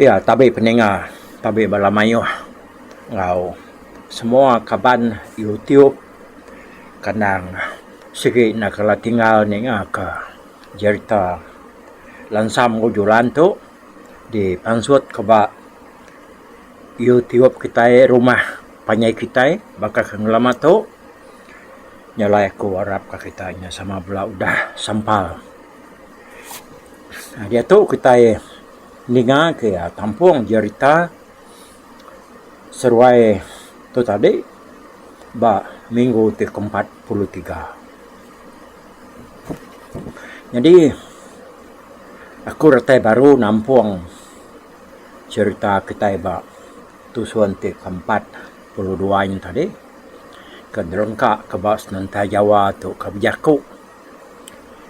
Iya tabi peninga tabi bala mayuh enggau semua kaban YouTube kandang sigi enda kala tinggal ningaka jerita Lansam Ujulan tu dipansutka ba Youtube kitai rumah panjai kitai baka ke ngelama tu nya alai aku arap ka kitai nya sama bala udah sampal diatu kitai ninga ke tampung jerita seruai tu tadi ba minggu ti ke empat puluh tiga nyadi aku retai baru nampung. cherita kitai ba tusun ti ke empat puluh dua nya tadi ke derengka ke ba sementai jawa tu ke bejaku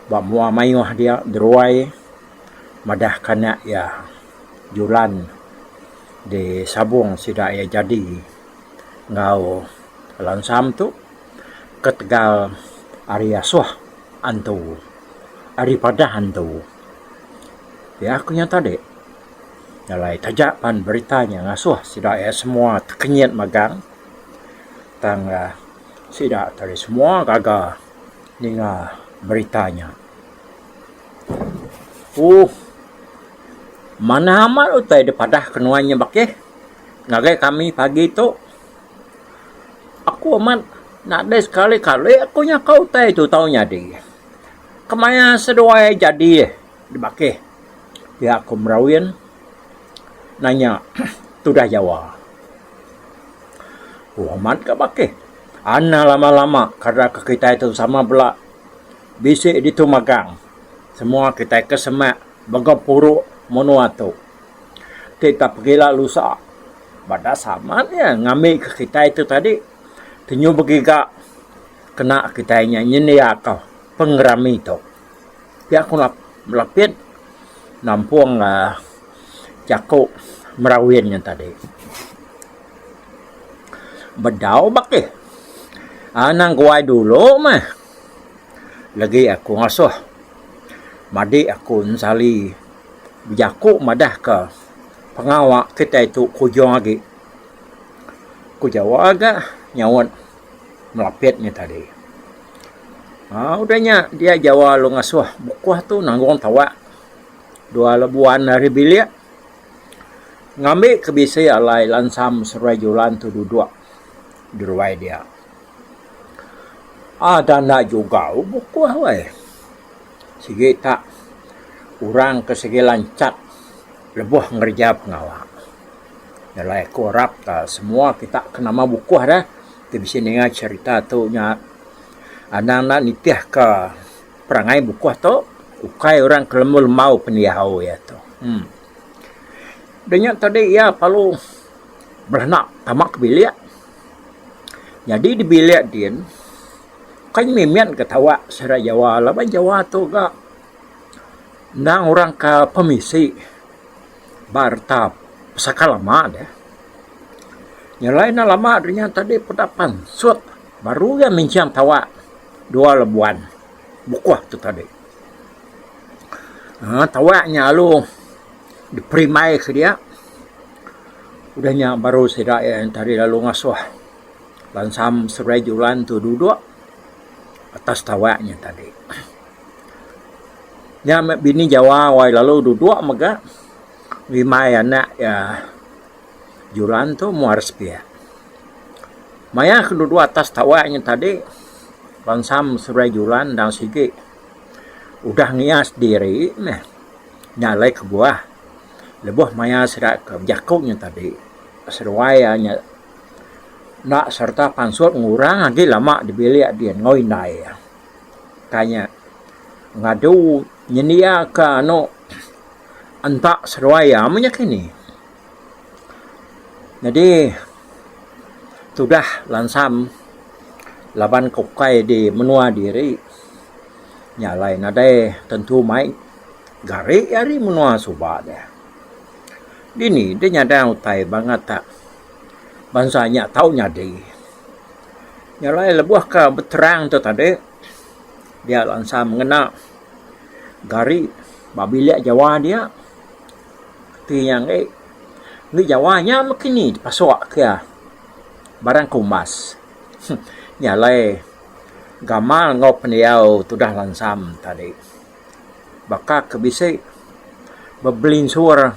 ba mua mayuh dia deruai madah ke anak iya julan di sabong sida iya jadi enggau lansam tu ketegal ari asuh antu ari padah antu. Pia aku nya tadi jalai taja pan berita nya ngasuh sida iya semua tekenyit megang tang sida tadi semua gaga ninga berita nya. Ooh manah amat utai dep padah ke nuan nya bakih ngagai kami pagi tu. Aku amat nadai sekali kali aku nyaka utai tu tau nyadi. Kemaya seduai jadi dibakih pia ku Merawin nanya tudah Jawa. Ku Amat ka bakih, Ana lama-lama kada ke kitai tu sama bela bisi ditu magang. Semua kitai ke semak mega puru menua tu. Ti tau pegila lusa ba dasar Amat iya ngambika kitai tu tadi. Tenyu begiga. kena kitai nya nyendiaka pengerami tu. Pia ku Lapit nampung aaa jaku Merawin nya tadi. Bedau bakih anang guai dulu meh legi aku ngasuh madik aku ensali bejaku madahka pengawa kitai tu kujung agi. Ku Jawa ga nyaut. Melapit nya tadi. Aaa udah nya dia jawa lalu ngasuh bukuh tu nanggung tawak dua lebuan ari bilik ngambi ke bisi alai lansam seruai julan tu duduk diruai dia. Ada enda jugau bukuh weh. Sigi ta orang ke sigi lanchat lebuh ngereja pengawa. Yalah aku arap semua kita ke nama bukuh dah ti bisi ninga cherita tu nya anang enda nitih ka perangai bukuh tu ukai orang ke lemu lembau ke diau iya tu. Em Dia nya tadi iya perlu beranak tama ke bilik nyadi di bilik din kan mimin ka tawa sida Jawa laban Jawa tu ga endang orang ka pemisi. ba reta pesaka lama deh. Nyelai ne lama rinya tadi peda pansut baru iya minching tawa dua lebuan bukuh tu tadi. Aaa tawa nya lalu diperimbai ke dia. Udah nya baru sida iya tadi lalu ngasuh bansa Seruai Julan tu duduk atas tawa nya tadi. Nya meh bini Jawa wai lalu duduk mega ngimbai anak iya Julan tu muar sepiak. Maya ke duduk atas tawa nya tadi bansa Meserai Julan endang sigi udah ngias diri meh nya alai kebuah lebuh maya sida ke bejaku nya tadi seduai iya nya enda sereta pansut ngurang agi lama dibilik dian enggau indai iya. Tanya. Ngadu nyendia ka anu enta seduai iya meh nya kini. Nyadi tudah lansam laban ke ukai di menua diri nya alai nadai tentu mai gari ari menua suba deh. Dini deh nyadang utai bangat bansa nya tau nyadi. Nya alai lebuh ka beterang tu tadi dia lansa mengena gari ba bilik jawa dia ti iya enggai enda jawa nya meh kini dipasok iya barang ke umbas. Nya alai gamal enggau pendiau tudah langsam tadi. Baka ke bisi bebelinsur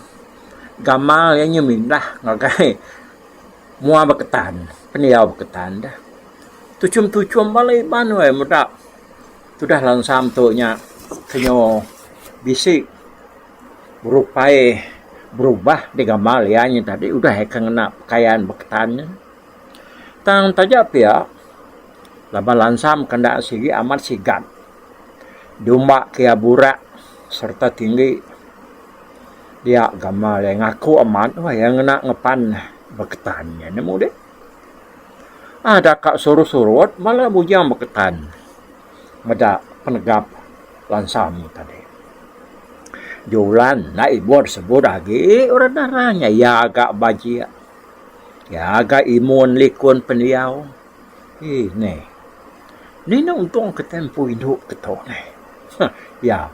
gamal iya nya mindah ngagai Mua beketan, pendiau beketan deh. Tuchum-tuchum bala Iban weh meda tudah lansam tu nya kenyo bisi berupai berubah di gamal iya nya tadi udah iya ke ngena pekayan beketan nya. Tang taja pia laban lansam ke enda sigi amat sigat diumba ke iya burak sereta tinggi. Dia gamal iya ngaku amat bah iya ngena ngepan beketan iya nya mung deh. Ada ka suruh surut bala bujang beketan meda penegap bansa ami tadi. Julan enda ibuh disebut agi orang dara nya iya ga bajik iya ga imun likun pendiau. Ih neh. Nina untung ke tempoh indu ke tu neh. Huh iya.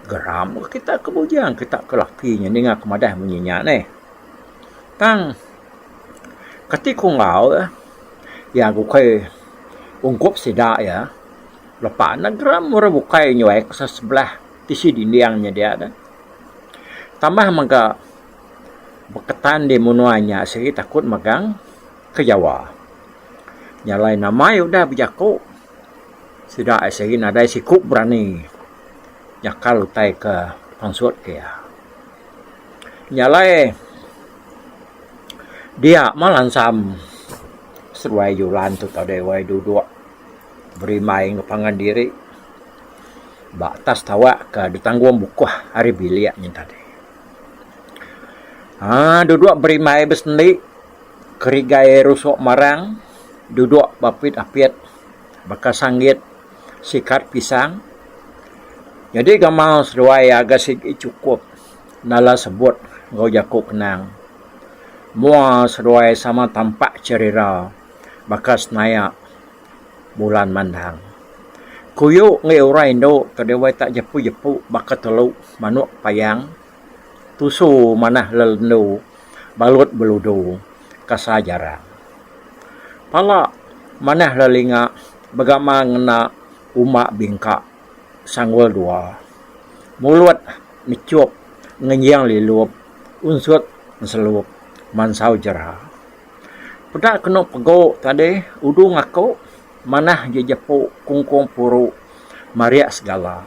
Geram ke kita ke bujang kita ke laki nya ninga ke madah munyi nya neh. Tang kati ku enggau eh iya ke ukai ungkup sida iya lepa ne geram orang bukai nyuai ke sebelah tisi dinding nya dia deh. Tambah mega beketan di menua nya sigi takut megang. ke Jawa. Nya alai nama iya udah bejaku sida ai sigi nadai siku berani nyakal utai ke pansut ke iya. Nya alai dia mah lansam seduai Julan tu tau deh wei duduk berimbai enggau pangan diri ba atas tawa ke ditanggung bukuh ari bilik nya tadi. Haa duduk berimbai besendi. Kerigai rusok marang dudok bapit apit baka sanggit sikat pisang nyadi gamal seduai aga sigi chukup nala sebut enggau jaku kenang. Mua seduai sama tampak cherira baka senayak bulan mandang. Kuyu enggau orang indu ke dewai tak jepu-jepu baka telu manok payang. Tusu manah lelendu balut beludu kasa jarang. Pala manah lelinga begama ngena uma bingka sanggul dua. Mulut mechup ngenjing lilup unsut enselup mansau jera. Peda kenu pegu tadi udung aku manah jejepu kungkung puru mariak segala.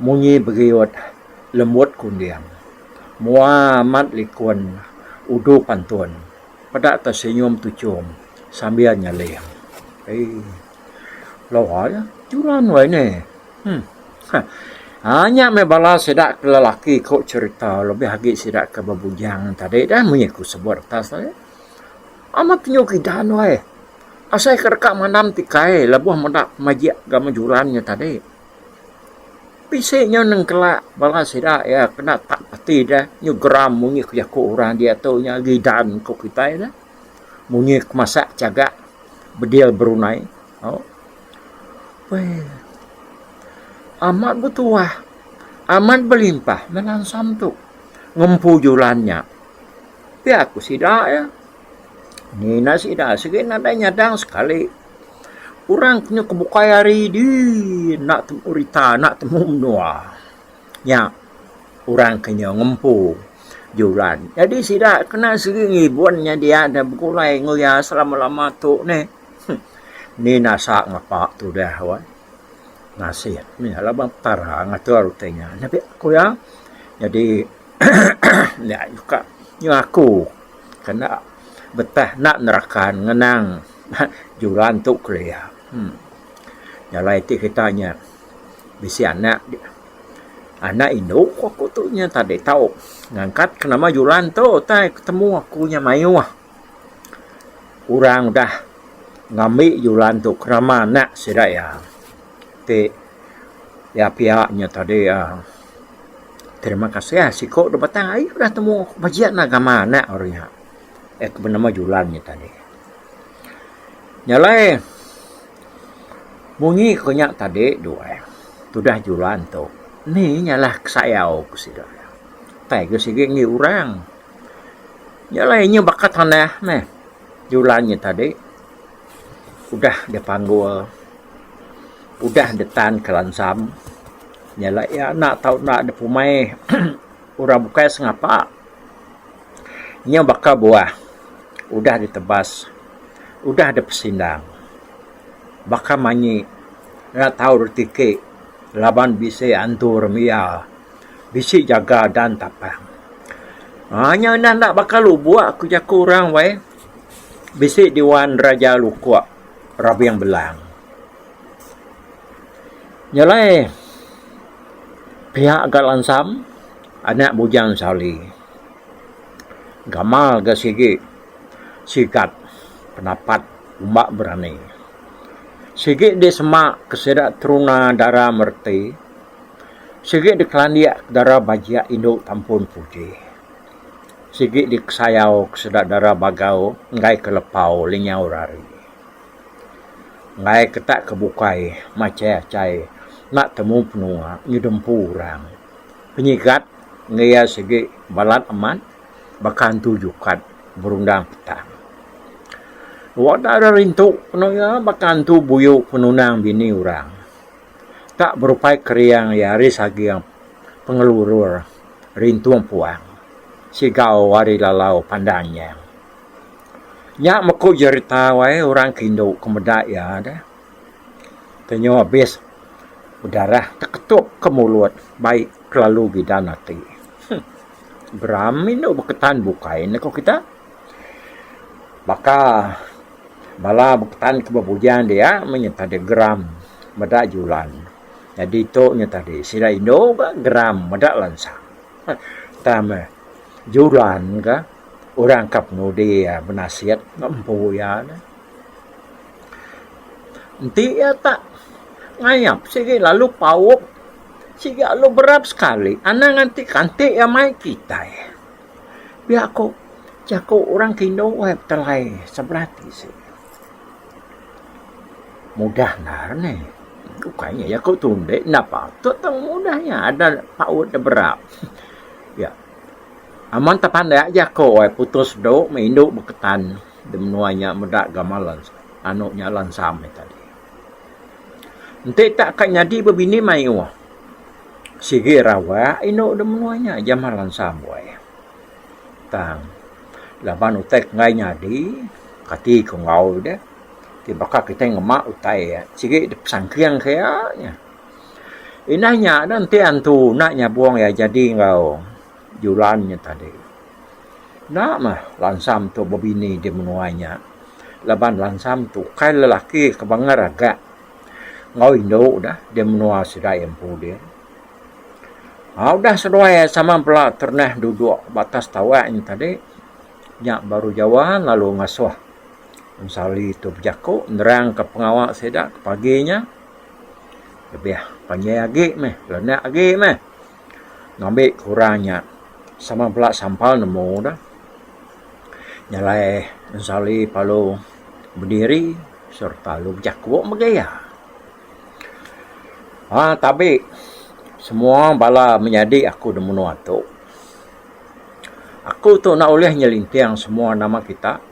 Munyi beriut lembut kunding. Mua amat likun udu pantun. Peda ke senyum tuchum sambil nyeling. Lawa nya juran wai ne. Nya meh bala sida ke lelaki ku cherita lebih agi sida ke bebujang tadi munyi ku sebut atas tadi. Amat penyu kidan wai. Asai ke deka mandam ti kai lebuh meda pemajik ga mejuran nya tadi. Bisi nya nengkala bala sida iya ke enda tak pati deh nyu geram munyi ke jaku orang dia tu nya gidan ku kitai deh. Munyi ke masak chagak bedil berunai au. Weh. Amat betuah amat belimpah meh langsam tu ngempu juran nya. Pia ku sida iya. Ngena sida sigi nadai nyadang sekali orang ke nyau ke bukai hari di enda temu rita enda temu menua nya orang ke nyau ngempu juran jadi sida kena sigi ngibun nya dia deh begulai enggau iya selama lama tu neh ni nasa ngapa tu deh weh. ngasih nya laban petara ngatur ti nya nyapi ku iya nyadi nya ka nyuah aku kena betah enda nerakan ngenang juran tu kelia uhh jalai ti kita nya bisi anak anak indu ku aku tu nya tau ngangkat ke nama juran tu utai ketemu aku nya mayuh. Orang udah ngambi julan tu kerama anak sida iya ti iya pia nya tadi uhh terima kasih siku dep batang aie udah temu bejin agama anak orang nya eh ke benama julan nya tadi. Nya alai munyi ku nya tadi du ai tudah julan tu nih nya lah sayau ku sida. Utai ku sigi ngi orang. Nya alai inya baka tanah meh julan nya tadi udah deh panggul udah deh tan ke lansam nya alai iya enda tau enda deh pemai orang bukai sengapa nya baka buah udah deh tebas udah deh pesindang baka manyi enda tau reti ti laban bisi antu remi iya. Bisi jaga dan tapang. Haa nya enda enda baka lubok aku jaku orang weh. Bisi diwan raja lukok rabing belang. Nya alai piak ga lansam anak bujang sali. Gamal ga sigi sigat penapat umba berani. Sigi disemak ke sida teruna dara mereti Sigi dikelandik dara bajik indu tampun puji. Sigi dikesayau ke seda dara bagau enggai ke lepau linyau rari. Enggai ke tak ke bukai machai achai enda temu penua nyudah empu orang. Penyigat enggau iya sigi balat amat baka antu jukat berundang petang. Wak dara rintu penu iya baka antu buyu penunang bini orang. ka berupai keriang iya ari saging pengelurur rintung puang sigau ari lalau pandang iya. Nya meku jerita wai orang ke indu ke meda iya deh. Tenyo abis bedarah teketup ke mulut bai kelalu bidan ati. Geram indu beketan bukai ne ko kita. Baka Bala bekutan ke bebujang dia menyereta dia geram meda julan. Nyadi tu nya tadi sida indu ka geram meda lansa. Tang meh julan ka orang ka penudi iya benasit enggau empu iya nya. Enti iya tak ngayap sigi lalu paup sigi lalu berat sekali anang ati kanti iya mai kitai. Pia ku jaku orang ti indu ai betelai sebelah ti sik. Mudah endar ne. Ukai nya jaku tu ende enda patut tau mudah nya ada paut da berak. Pia. Aman tepandak jaku ai putus dok meh indu beketan de menua nya meda gamal anu nya lansam nya tadi. Enti tak ka nyadi bebini mayuh, sigi rawak indu da menua nya Jamal Hansa Amboi. Tang laban utai ke enggai nyadi, kati ku enggau deh, ti baka kitai ngema utai sigi da pesangking ke iya. Inah nya enti antu enda nyabung iya jadi enggau. Julan nya tadi. Enda mah lansam tu bebini di menua nya laban lansam tu ukai lelaki ke banggar aga enggau indu ne di menua sida iya empu dih. Au udah seduai sama bala ternah duduk ba atas tawak nya tadi nya baru jawa lalu ngasuh ensali tu bejaku nerangka pengawa sida ke pagi nya lebih panjai agi meh lenek agi meh. ngambi ke orang nya sama bala sampal nemu ne nya alai Ensali Palu bediri sereta lu bejaku mega iya. Aaa tabi semua bala menyadi aku da menua tu aku tu enda ulih nyelinting semua nama kita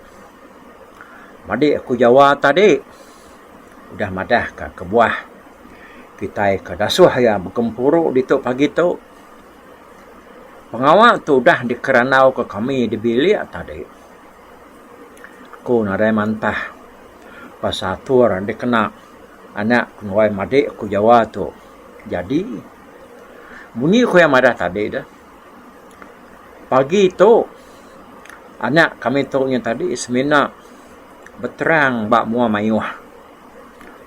madi aku Jawa tadi. udah madah ka kebuah kitai ka dasuh iya begempuru ditu pagi tu. Pengawa tu udah dikerandau ka kami di bilik tadi. Aku nadai mantah pasal atur dikena anak ku enggau madi ku jawa tu jadi. Munyi ku iya madah tadi deh. Pagi tu anak kami tu nya tadi semina beterang ba mua mayuh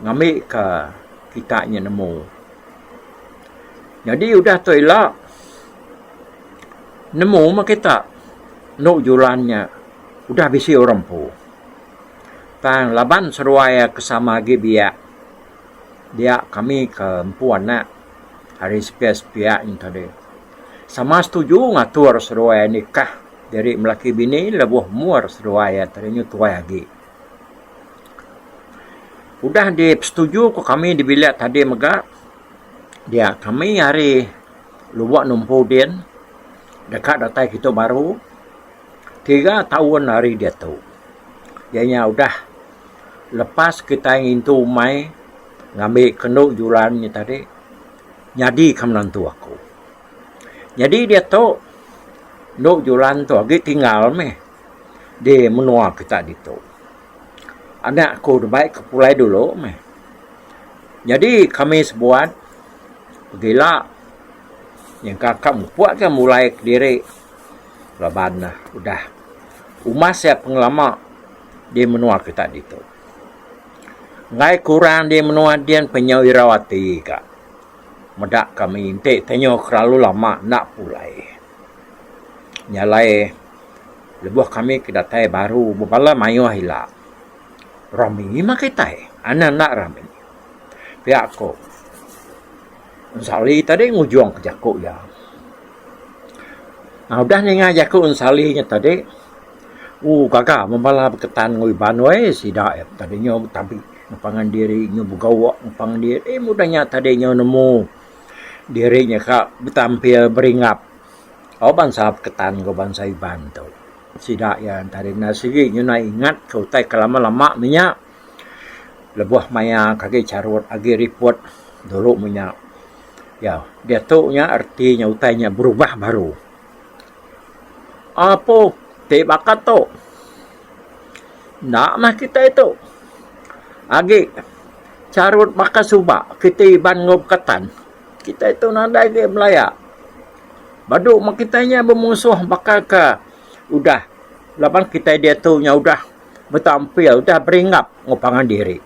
ngambi ka kita nya nemu. Nyadi udah tu ila nemu mah kita enu julan nya udah bisi orang empu. Tang laban seduai iya ke sama agi biak dia kami ke empu anak. ari sipia sipia nya tadi sama setuju ngatur seduai nikah diri lelaki bini lebuh umur seduai iya tadi nyu tuai agi udah dipesetuju ku kami di bilik tadi mega dia kami ari lubok numpu din deka datai kitu baru tiga taun ari diatu iya nya udah lepas kitai ngintu umai. Ngambi kenu julan nya tadi nyadika menantu aku. Nyadi diatu enu julan tu agi tinggal meh di menua kita ditu. Anak aku deba ika pulai dulu meh. Nyadi kami sebuat pegila nyangka ka mupuk ka mulai kediri laban udah umas iya pengelama di menua kita ditu. Enggai kurang di menua din penyau irau ati ka. Meda kami enti tenyau ke lalu lama enda pulai. Nya alai lebuh kami ke datai baru bebala mayuh ila. Rami mah kitai. Anak enda rami. Pia ko. Ensali tadi ngujungka jaku iya. Udah ninga jaku Ensali nya tadi, ooh gaga meh bala beketan enggau Iban wei sida iya tadi nyau betabi enggau pangan diri, nyau begawa enggau pangan diri. Eh udah nya tadi nyau nemu diri nya ka betampil beringap enggau bansa beketan enggau bansa Iban tu. Sida iya tadi enda sigi nyau ingatka utai ke lama-lama meh nya. lebuh maya ke agi charut agi riput dulu meh nya iya diatu nya reti nya utai nya berubah baru apu ti baka tu enda meh kitai tu agi charut baka suba kitai iban enggau bekatan kitai tu nadai agi belaya badu meh kitai nya bemusuh baka ke udah laban kitai diatu nya udah. betampil udah beringap enggau pangan diri.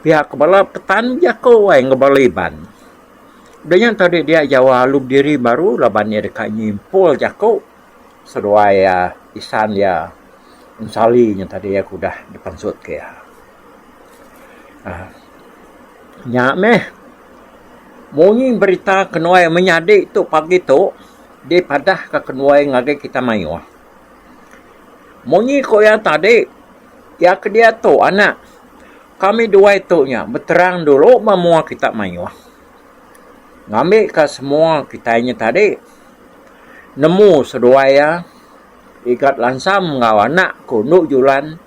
Pihak ke bala petani jaku ai enggau bala Iban. Udah nya ento deh dia jawa alu bediri baru laban iya deka nyimpul jaku seduai isan iya Ensali nya tadi aku udah dipansut ke iya. aaa Nya meh munyi berita ke nuai menyadi tu pagi tu dipadah ka ke nuai ngagai kita mayuh. Munyi ku iya tadi, iya ke diatu anak kami dua itu nya beterang dulu ba mua kita mayuh. Ngambika semua kitai nya tadi nemu seduai iya Igat Lansam enggau anak ku Endu Julan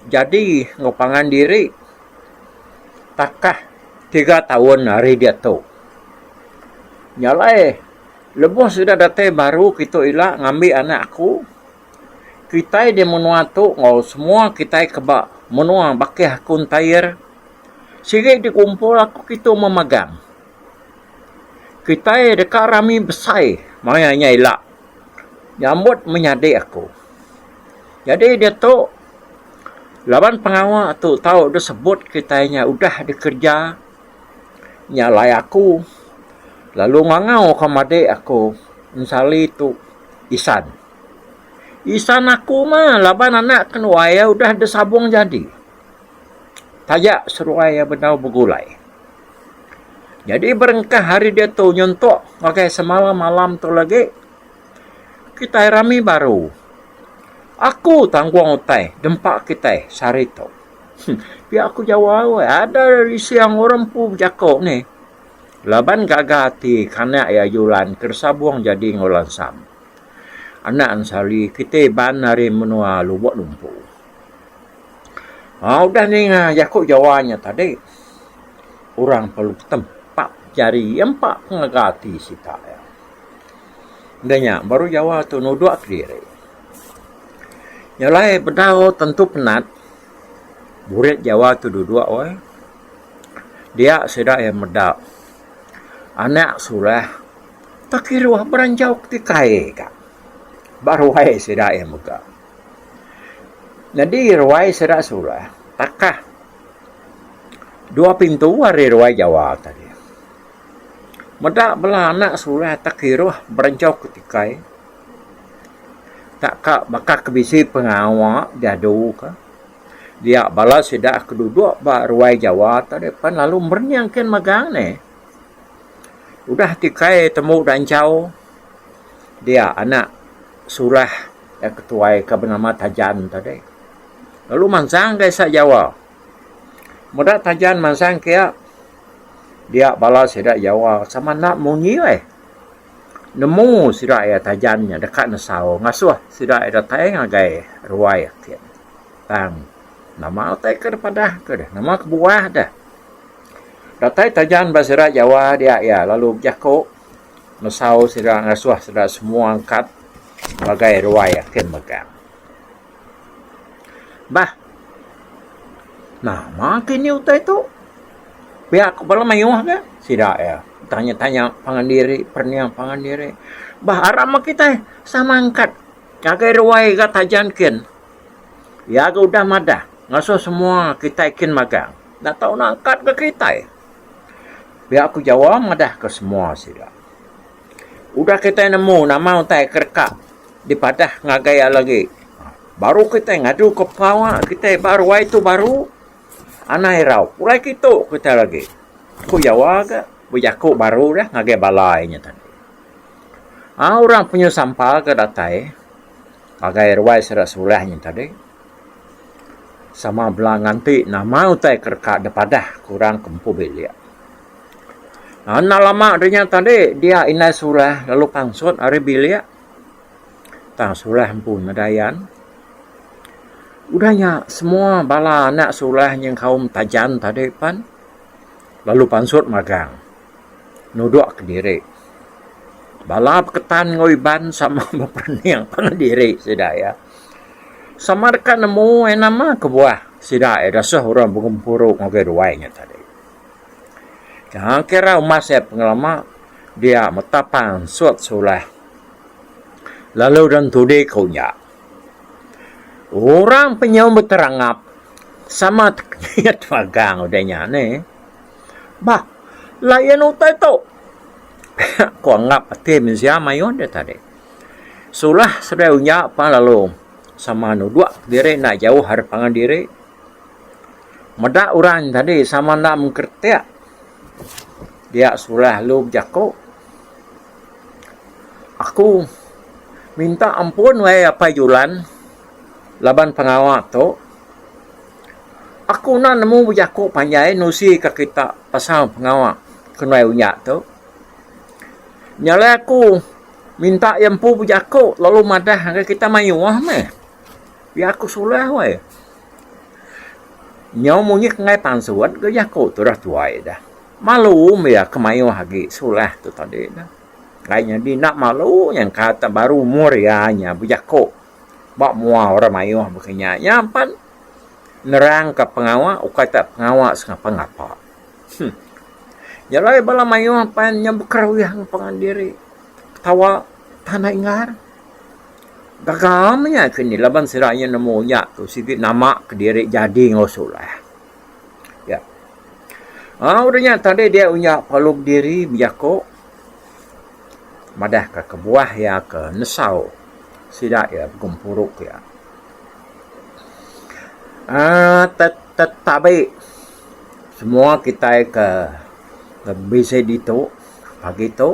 jadi enggau pangan diri takah tiga taun ari diatu. Nya alai. Lebuh sida datai baru kitu ila ngambi anak aku, kitai di menua tu enggau semua kitai ke ba menua bakih aku ntair sigi dikumpul aku kitu memagang. Kitai deka rami besai maya nya ila nyambut menyadi aku. Nyadi diatu laban pengawa tu tau disebut kitai nya udah dikerja. nya alai aku lalu ngangau ka madik aku ensali tu isan. Isan aku mah laban anak kenuai iya udah disabung jadi taja seruai iya bedau begulai. Jadi berengkah ari diatu nyentok ngagai semalam malam tu lagi kitai rami baru aku tanggung utai dempa kitai sehari tu. Pia aku jawa weh ada rising orang empu bejako neh laban gaga ati kanak iya julan ke disabong jadi enggau lansam anak ensali kite iban ari menua lubok lumpu um udah ninga jaku jawa nya tadi orang perlu tempa jari iya empa pengaga ati sita iya enda nya baru jawa tu nudok kediri. Nya alai bedau tentu penat buret Jawa tu duduk weh. Dia sida iya meda anak sulah tak kiruh beranjau ti kai ka ba ruai sida iya mega. Nyadi ruai sida sulah takah dua pintu ari ruai Jawa tadi. Meda bala anak sulah tak kiruh beranjau ti kai. Takka baka ke bisi pengawa diadu ke dia bala sida ke dudok ba ruai Jawa tu deh pan lalu merening ken magang ne. Udah ti kai tembu da enchau dia anak surah da ketuai ke benama Tajan tu deh lalu mansang ka isa Jawa. Meda Tajan mansang kia dia bala sida Jawa sama enda munyi leh. Nemu sida iya tajan nya deka nesau ngasuh sida iya datai ngagai ruai ati ne. Tang nama utai ke dipadah ke deh nama kebuah deh. Datai tajan ba sida Jawa dia iya lalu bejaku nesau sida ngasuh sida semua angkat ngagai ruai ati ne mega. Bah. Nama ke ini utai tu? Pia ku bala mayuh ke? Sida iya tanya-tanya pangan diri, perening pangan diri. Bah ara meh kitai sama angkat ngagai ruai ga taja engkin. Iya ga udah madah ngasuh semua kitai kin magang. Enda tau nangkat ga kitai. Pia ku Jawa madah ke semua sida. Udah kitai nemu nama utai ke deka dipadah ngagai iya lagi, baru kitai ngajuka pengawa kitai ba ruai tu baru anang irau. Pulai ke itu kitai lagi, ku Jawa ga bejaku baru dah ngagai bala iya nya tadi. Au orang penyuh sampa ke datai ngagai ruai sida Sulah nya tadi sama bala nganti nama utai ke deka dipadah ke orang ke empu bilik. Enda lama ari nya tadi dia indai surah lalu pansut ari bilik tang surah empu meda ayan. Udah nya semua bala anak surah nyengkaum tajan tadi pen lalu pansut magang nudok kediri. Bala beketan enggau Iban sama beperening pangan diri sida iya. Sama deka nemu nama kebuah sida iya disuh orang begempuru ngagai ruai nya tadi. Tang kira umas iya pengelama dia meta pansut sulah lalu deh entudi ku nya. Orang penyu beterangap sama tekemit magang udah nya ni. Bah layan utai tu ku anggap ati mensia mayuh deh tadi. Sulah seduai unya pan lalu sama nudok diri enda jauh ari pangan diri. Meda orang nya tadi sama enda mengkretek dia sulah lalu bejaku aku minta ampun wahai Apai Julan laban pengawa tu aku enda nemu bejaku panjai nerusi ka kita pasal pengawa kenuai unya tu nya alai aku minta iya empu bejaku lalu madah ngagai kita mayuh meh. Iya aku sulah wai. Nyau munyi kenggai pansut ke jaku tu dah tuai dah. Malu meh iya ke mayuh agi sulah tu tadi dah. Kai nyadi enda malu nyangka te baru umur iya nya bejaku ba mua orang mayuh baka nya. Nya pan nerangka pengawa ukai te pengawa sengapa ngapa. Huh. Nya alai bala mayuh pan nya bekeruih ngempungan diri. Ketawa tanda ingar. Gaga am nya ke ni laban sida nya nemu nya tu sigi nama kediri jadi enggau Solah. Ya. Au udah nya tadi dia uya palu bediri bejaku madah ka kebuah iya ke nesau sida iya begempuru ke iya. Ah tet tetabi semua kitai ke bisi ditu pagi tu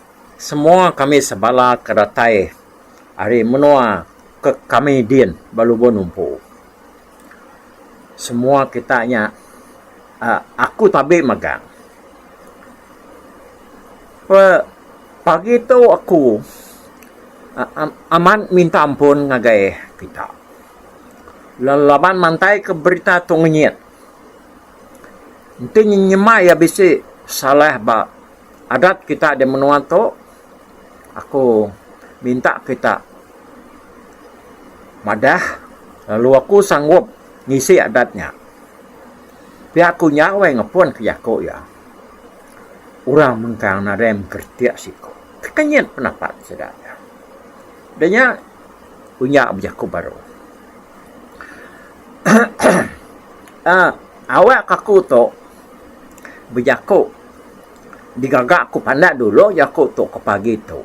Semua kami sebala ke datai ari menua ke kami din ba lubon umpu. Semua kita nya uhh aku tabi magang. Pe pagi tu aku uhh amat minta ampun ngagai kita laban mantai ke berita tu ngenyit. Enti nyema iya bisi salah ba. Adat kita di menua tu aku minta kita madah lalu aku sanggup ngisi adat nya. Pia ku nya weh ngepun ke jaku iya. Orang mengkang nadai mengkeritik siku. Tekenyit pendapat sida nya. Da nya ku nya bejaku baru. Aaa awak aku tu. bejaku digaga ku pandak dulu jaku tu ke pagi tu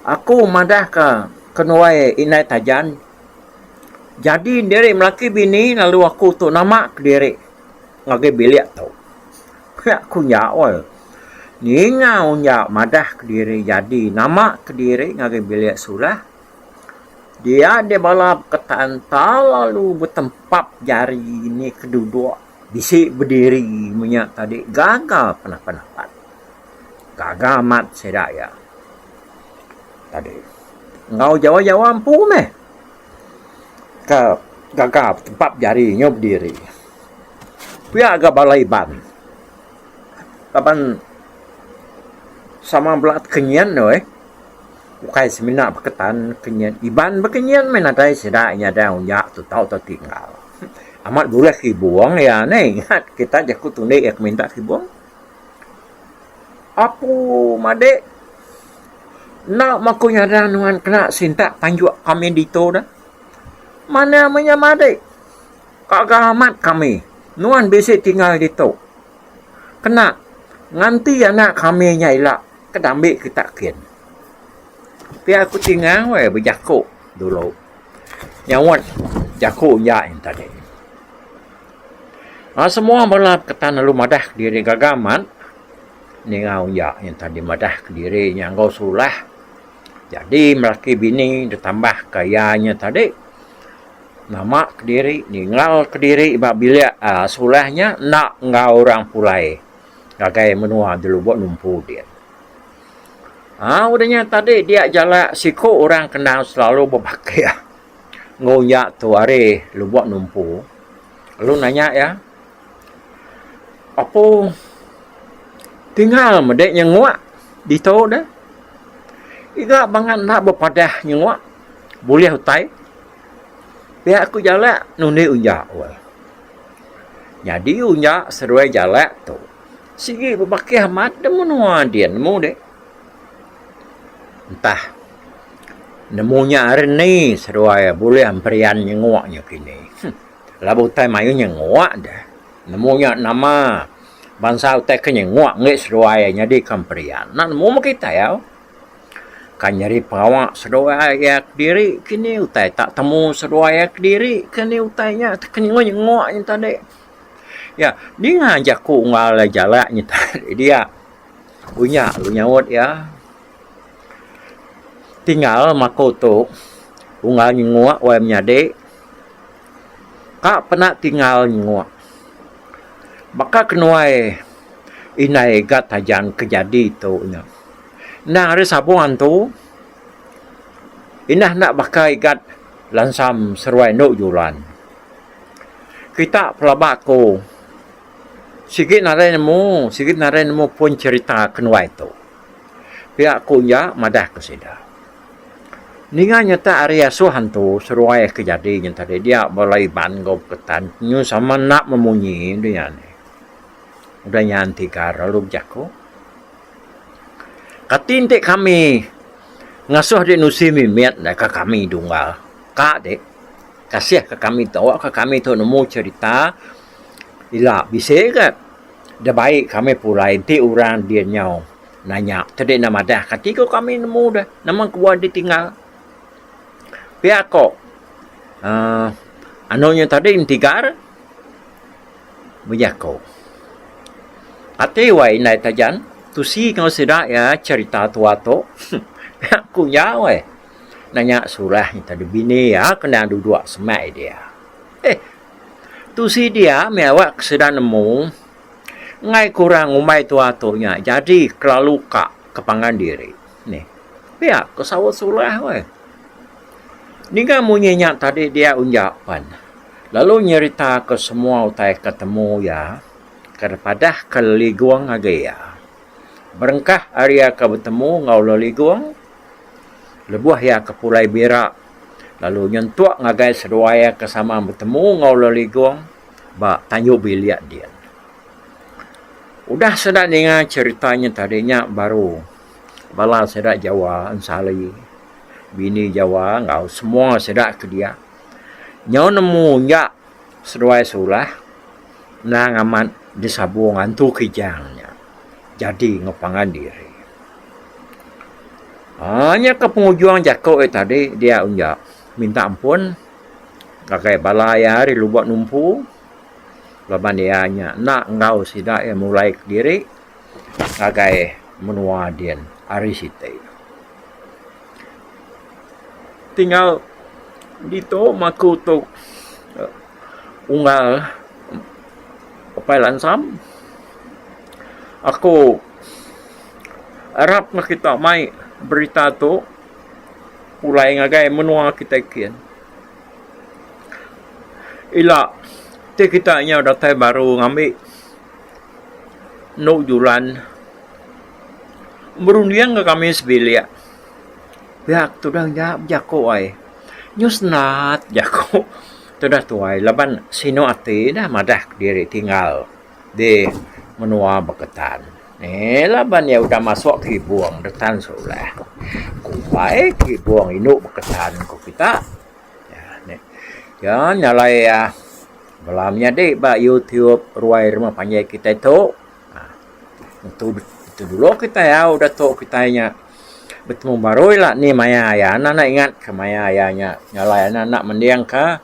aku madah ka kenuai indai tajan jadi diri melaki bini lalu aku tu nama kediri ngagai bilik tu pia ku nya oi ninga nya madah kediri jadi nama kediri ngagai bilik sulah dia deh bala beketan tau lalu betempap jari ni keduduk. Bisi bediri menya tadi gaga penapa dapat. Gaga amat sida iya tadi. Enggau jawa-jawa empu meh ke gaga tempat bejari nyau bediri. Pia ga bala Iban laban sama bala kenyin doi ukai semina baka tan kenyin. Iban ba kenyin meh nadai sida nyadai unjak tutau atau tinggal. Amat buras kibung iya neh ingat kita jaku tunik iya ke minta kibung. Apu madik enda meh aku nyada nuan kena sintak panjuk kami ditu dah. Manah meh nya madik kaga amat kami nuan bisi tinggal ditu kena nganti anak kami nya ila ke dambi kita kin. Pia aku tinggal weh bejaku dulu. Nyaut jaku iya nya tadi. Ba semua bala ketan lalu madah kediri gaga amat ningau iya nya tadi madah kediri nya enggau sulah jadi melaki bini ditambah ka iya nya tadi nama kediri ningau kediri ba bilik aaa sulah nya enda enggau orang pulai ngagai menua di lubuk lumpu din. Haa udah nya tadi dia jalak siku orang kenang selalu bebakih enggau uya tu ari lubok numpu lalu nanya iya apo tingal mede nyengok ditu deh iga bangat enda bepadah nyengok bulih utai pia aku jalak nundi uya weh nyadi uya seduai jalak tu. Sigi bebakih amat da menua dian nemu deh. Entah nemu nya ari ni seduai bulih emperian nyenguk nya kini. Huh. Lalu utai mayuh nyenguk deh. Nemu nya nama bansa utai ke nyenguk enggai seduai iya nyadi ke emperian. Enda nemu meh kitai au. Kan nyadi pengawa seduai iya kediri kini utai tak temu seduai iya kediri kini utai nya. Ke nyenguk-nyenguk nya tadi. Iya, ninga jaku enggau alai jalak nyita diri dia. Unya lu nyaut iya. Tinggal maku tu unggal nyenguk wai menyadi. Ka pena tinggal nyenguk. Baka kenuai indai ga tajang ke jadi tu nya. Endang hari sabung antu indah enda baka igat lansam seruai endo julan. Kita pelaba aku sigi narai nemu sigi narai nemu pun cerita ke nuai tu. Pia aku nya madah ku sida. Ninga nyentak ari asuh antu seruai ke nyadi nya tadi dia bala Iban enggau Ketan nyu sama enda memunyi dunya ni. Udah nyan tiga lalu bejaku. Kati enti kami ngasuh dek nusi mimit deka kami dunggal. Ka dek. Kasih ka kami tu awak ka kami tu nemu cerita ila bisi ga da baik kami pulai enti orang dia nyau nanya tu dia enda madah kati ko kami nemu da nama ko buah dia tinggal pia ko uhh anu nya tadi mentigar bejako ati wai indai tajan tusi enggau sida iya cerita tua tu aku nyau wai. Nanya Surah nya tadi bini iya ke endang duduk semai dia. Eh, tu sidia meh awak ke sida nemu. Enggai ke orang ngumbai tua tu nya jadi kelalu ka ke pangan diri. Nih, pia ke saut Surah weh. Ninga munyi nya tadi dia unja pen, lalu nyerita ke semua utai ke temu iya ke dipadah ke Leligong ngagai iya. Berengkah ari iya ke betemu enggau Leligong, Lebuh iya ke pulai bira lalu nyentuk ngagai seduai iya ke sama betemu enggau Leligong ba Tanjung Bilik din. Udah sida ninga cherita nya tadi nya baru bala sida Jawa ensali bini Jawa enggau semua sida ke dia nyau nemu nya seduai Sulah endang amat disabung antu Kijang nya jadi enggau pangan diri. Haa nya ke pengujung jaku iya tadi dia unja minta ampun ngagai bala iya ari lubuk numpu laban iya nya enda enggau sida iya mulai kediri ngagai menua din ari siti. Ti enggau ditu meh aku tu unggal Apai Lansam aku arap neh kita mai berita tu pulai ngagai menua kita kin. Ila ti kita nyau datai baru ngambi enu julan berunding ngan kami sebilik pia ke tudah nya bejaku ai nyau senat jaku tudah tuai laban sinu ati dah madah diri tinggal. di menua Beketan. Eii laban iya udah masuk ke ibong dah tan sekolah. Kumbai ke ibong indu Beketan ku kita. Iya nyalai bala menyadi ba YouTube ruai rumah panjai kitai tu. Ngetu ngetu dulu kitai au udah tu kitai nya betemu barui lah ni maya iya. Anak anak ingat ka maya iya nya nyalai anak anak mending ka.